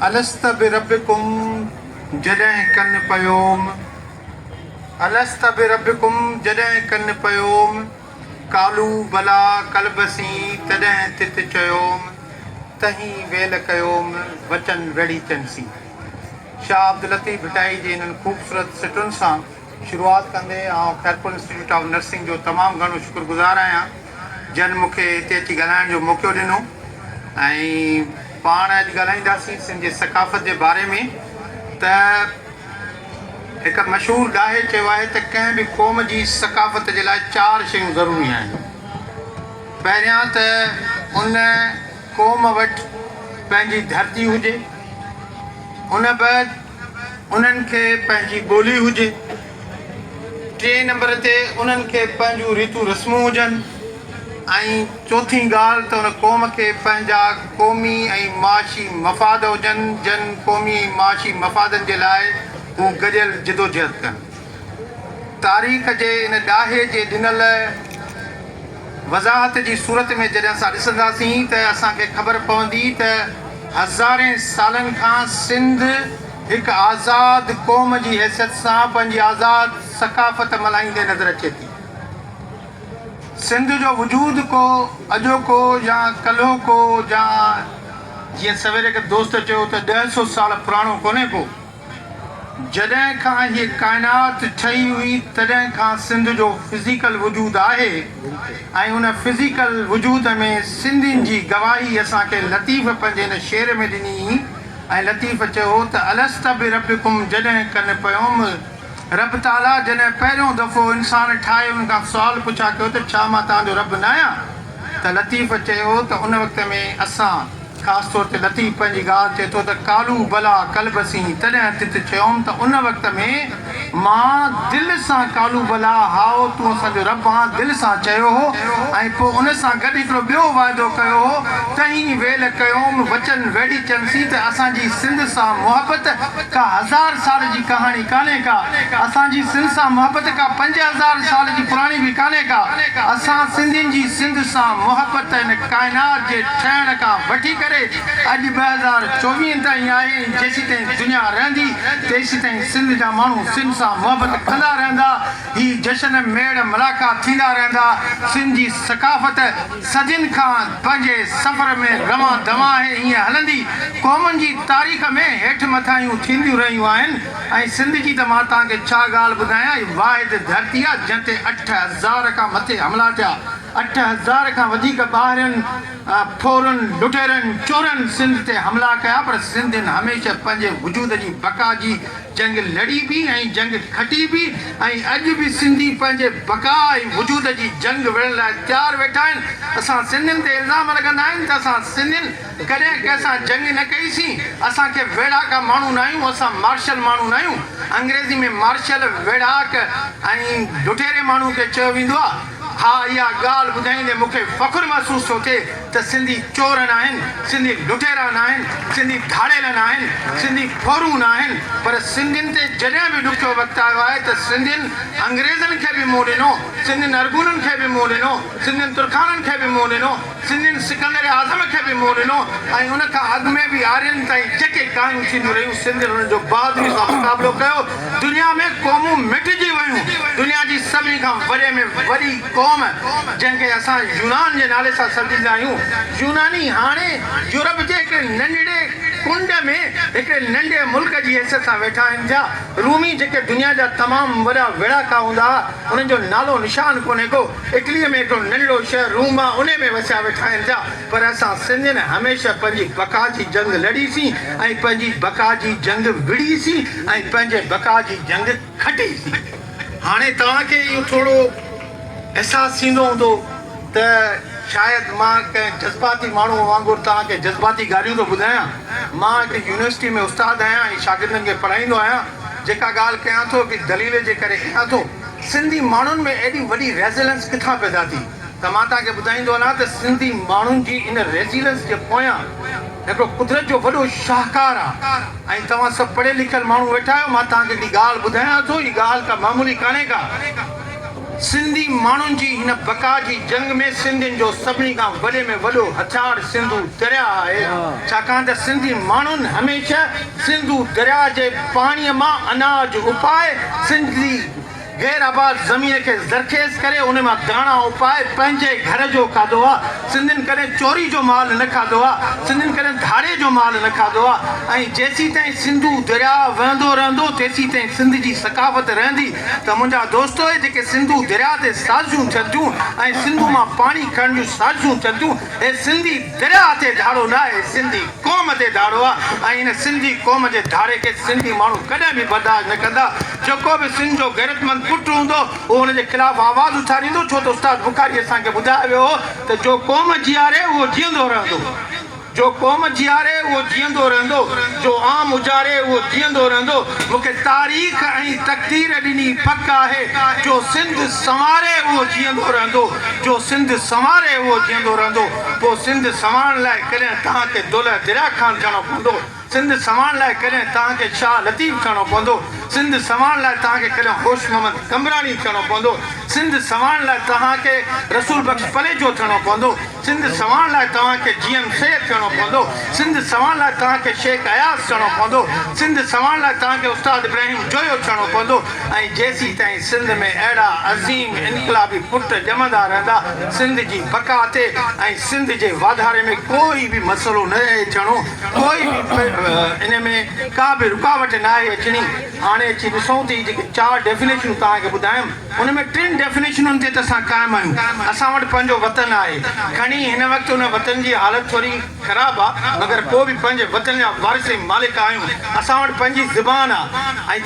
الست بربڪم جڏهن ڪن پيوم الست بربڪم جڏهن ڪن پيوم قالو بلا قل بسين تڏهن تت چيوم تهين ويل ڪيوم وچن ويڙهيچن سين شاهه عبداللطيف ڀٽائي جي انهن خوبصورت سٽن سان شروعات ڪندي آئون خيرپور انسٽيٽيوٽ آف نرسنگ جو تمام گهڻو شڪر گذار آهيان جن مون کي هتي اچي ڳالهائڻ جو موقعو ڏنو ۽ پاڻ اڄ ڳالهائينداسين سنڌ جي ثقافت جي باري ۾ ته هڪ مشهور ڏاهي چيو آهي ته ڪنهن به قوم جي ثقافت جي لاء چار شيون ضروري آهن پهريان ته ان قوم وٽ پنهنجي ڌرتي هجي ان بعد انهن کي پنهنجي ٻولي هجي، ٽئين نمبر تي انهن کي پنهنجون ريتون رسمون هجن ۽ چوٿين ڳالهه ته ان قوم کي پنهنجا قومي ۽ معاشي مفاد هجن جن قومي ۽ معاشي مفادن جي لاء هو گڏيل جدوجهد ڪن. تاريخ جي ان ڏاهي جي ڏنل. وضاحت جي صورت ۾ جڏهن اسان ڏسنداسين ته اسان کي خبر پوندي ته هزارين سالن کان سنڌ هڪ آزاد قوم جي حيثيت سان پنهنجي آزاد ثقافت ملهائيندي نظر اچي ٿي. سنڌ جو وجود ڪو اڄوڪو يا ڪلهوڪو يا جيئن سويري هڪ دوست چيو ته ڏهه سو سال پراڻو ڪونهي ڪو، جڏهن کان هيء ڪائنات ٺهي هئي تڏهن کان سنڌ جو فزيڪل وجود آهي ۽ ان فزيڪل وجود ۾ سنڌين جي گواهي اسان کي لطيف پنهنجي هن شعر ۾ ڏني ۽ لطيف چيو هو ته الست بربڪم جڏهن ڪن پيوم رب تعاليٰ جڏهن پهريون دفعو انسان ٺاهي ان کان سوال پڇا ڪيو ته ڇا مان توهان جو رب ناهيان ته لطيف چيو هو ته ان وقت ۾ اسان خاص طور تي لطيف پنهنجي ڳالهه چئي ٿو ته ڪالو بلا قلب سين تڏهن تت چيوم ته ان وقت ۾ مان دل سان ڪالو بلا هائو تون اسان جو رب آن دل سان چيو هو ۽ پوء ان سان گڏ هڪڙو ٻيو واعدو ڪيو هو تنهن ويل ڪيوم وچن ويڙهي چيمسين ته اسان جي سنڌ سان محبت ڪا هزار سال جي ڪهاڻي ڪانهي ڪا اسان جي سنڌ سان محبت ڪا پنج هزار سال جي پراڻي به ڪانهي ڪا اسان سنڌين جي سنڌ سان محبت هن ڪائنات جي ٺهڻ کان وٺي ڪري اڄ ٻه هزار چوويهه تائين آهي ۽ جيسيتائين دنيا رهندي تيسيتائين سنڌ جا ماڻهو سنڌ سان محبت ڪندا رهندا هي جشن ميڙ ملاقات ٿيندا رهندا سنڌ جي ثقافت صدين کان پنهنجي سفر ۾ روان دوان آهي ائين هلندي قومن جي تاريخ ۾ هيٺ مٿاهيون ٿينديون رهيون آهن ۽ سنڌ جي ته مان توهان کي ڇا ڳالهه ٻڌايان هي واحد ڌرتي آهي جنهن تي اٺ هزار کان مٿي حملا ٿيا اٺ هزار کان وڌيڪ ٻاهرين ڦورن، لٽيرن، چورن سنڌ تي حملا ڪيا پر سنڌين هميشه پنهنجي وجود جي بقا جي جنگ لڙي به ۽ جنگ کٽي به ۽ اڄ به سنڌي پنهنجي بقا ۽ وجود جي جنگ وڙهڻ لاء تيار ويٺا آهن اسان سنڌين تي الزام لڳندا آهن ته اسان سنڌين ڪڏهن ڪنهن سان جنگ نه ڪئي سين اسان کي ويڙهاڪا ماڻهو ناهيون اسان مارشل ماڻهو ناهيون انگريزي ۾ مارشل ويڙهاڪ ۽ لٽيري ماڻهو کي چيو ويندو آهي. ها اها ڳالهه ٻڌائيندي مون کي فخر محسوس ٿو ٿئي ته سنڌي چور ناهن، سنڌي لٽيرا ناهن، سنڌي ڌاڙيل ناهن، سنڌي ڦورون ناهن پر سنڌين تي جڏهن به ڏکيو وقت آيو آهي ته سنڌين انگريزن کي به منهن ڏنو، سنڌين ارغونن کي به منهن ڏنو، سنڌين ترخانن کي به منهن ڏنو. سنڌين سڪندر اعظم کي به منهن ڏنو ۽ ان کان اڳ ۾ به آرين تائين جيڪي ڪاهيون ٿينديون رهيون سنڌين انهن جو بهادري سان مقابلو ڪيو. دنيا ۾ قومون مٽجي ويون. دنيا جي سڀني کان وڏي ۾ وڏي قوم جنهن کي اسان يونان جي نالي سان سڏيندا آهيون يوناني هاڻي يورپ جي هڪڙي ننڍڙي ڪنڊ ۾ هڪڙي ننڍي ملڪ جي حيثيت سان ويٺا آهن جا رومي جيڪي دنيا جا تمام وڏا ويڙهاڪا هوندا هئا انهن جو نالو نشان ڪونهي ڪو. اٽليء ۾ هڪڙو ننڍڙو شهر روم آ، انهي ۾ وسيا ويٺا آهن پيا، پر اسان سنڌين هميشه پنهنجي بقا جي جنگ لڙي سين ۽ پنهنجي بقا جي جنگ وڙهي سين ۽ پنهنجي بقا جي جنگ کٽي سين. هاڻي توهان کي اهو ٿورو احساس ٿيندو هوندو ته شايد مان ڪنهن جذباتي ماڻهوء وانگر توهان کي جذباتي ڳالهيون ٿو ٻڌايان. مان هڪ يونيورسٽيء ۾ استاد آهيان ۽ شاگردن کي پڙهائيندو آهيان. جيڪا ڳالهه ڪيان ٿو، هڪ دليل جي ڪري ڪيان ٿو. سنڌي ماڻهن ۾ ايڏي وڏي ريزيلنس ڪٿان پيدا ٿي ته مان توهان کي ٻڌائيندو هلان ته سنڌي ماڻهن جي ان ريزيلنس جي پويان هڪڙو قدرت جو وڏو شاهڪار آ ۽ توهان سڀ پڙهيل لکيل ماڻهو ويٺا آهيو مان توهان کي هڪڙي ڳالهه ٻڌايان ٿو هي ڳالهه ڪا معمولي ڪانهي ڪا سنڌي ماڻهن جي هن بقا جي جنگ ۾ سنڌين جو سڀني کان وڏي ۾ وڏو هٿيار سنڌو درياهه آهي ڇاڪاڻ ته سنڌي ماڻهن هميشه سنڌو درياء جي پاڻيء مان اناج اپائي سنڌ جي غير آباد زمين کي زرخيز ڪري ان مان داڻا اپائي پنهنجي گهر جو کاڌو آ سنڌين ڪڏهن چوري جو مال نه کاڌو آ سنڌين ڪڏهن ڌاڙي جو مال نه کاڌو آ ۽ جيسيتائين سنڌو درياء وهندو رهندو تيسيتائين سنڌ جي ثقافت رهندي ته منهنجا دوستو اهي جيڪي سنڌو درياء تي سازشون ٿين ٿيون ۽ سنڌو مان پاڻي کڻڻ جون سازشون ٿين ٿيون هي سنڌي درياء تي ڌاڙو ناهي هي سنڌي قوم تي ڌاڙو آ ۽ ان سنڌي قوم جي ڌاڙي کي سنڌي ماڻهو ڪڏهن به برداشت نه ڪندا جيڪو به سنڌ جو غيرتمند پٽ هوندو اهو ان جي خلاف آواز اٿاريندو ڇو ته استاد بخاري اسان کي ٻڌايو ويو هو ته جو قوم جياري اهو جيئندو رهندو جو قوم جياري اهو جيئندو رهندو جو عام اجاري اهو جيئندو رهندو مون کي تاريخ ۽ تقدير ڏني پڪ آهي جو سنڌ سنواري اهو جيئندو رهندو جو سنڌ سنواري اهو جيئندو رهندو. پوء سنڌ سنوارڻ لاء ڪڏهن توهان کي دولهه دريا خان ٿيڻو پوندو، سنڌ سنوارڻ لاء ڪڏهن توهان کي شاهه لطيف ٿيڻو پوندو، سنڌ سنوارڻ لاء توهان کي ڪڏهن هوش محمد قمبراڻي ٿيڻو پوندو، سنڌ سنوارڻ لاء توهان کي رسول بخش پليجو ٿيڻو پوندو، سنڌ سنوارڻ لاء توهان کي جي ايم سيد ٿيڻو پوندو، سنڌ سنوارڻ لاء توهان کي شيخ اياز ٿيڻو پوندو، سنڌ سنوارڻ لاء توهان کي استاد ابراهيم جويو ٿيڻو پوندو، ۽ جيسيتائين سنڌ ۾ اهڙا عظيم انقلابي پٽ ڄمندا رهندا، سنڌ جي بقا تي ۽ سنڌ جي واڌاري ۾ ڪو ئي به مسئلو نه رهي اچڻو، ڪو ئي به ان ۾ ڪا به رڪاوٽ ناهي اچڻي. هاڻي اچي ڏسون ته هي جيڪي چار ڊيفينيشنون توهان کي ٻڌايم، ان ۾ ٽن ڊيفينيشنن تي ته اسان قائم آهيون، اسان وٽ پنهنجو وطن آهي، کڻي هن وقت ان وطن جي حالت ٿوري خراب آ، مگر پوء به پنهنجي وطن جا وارث ۽ مالڪ آهيون، اسان وٽ پنهنجي زبان آ ۽.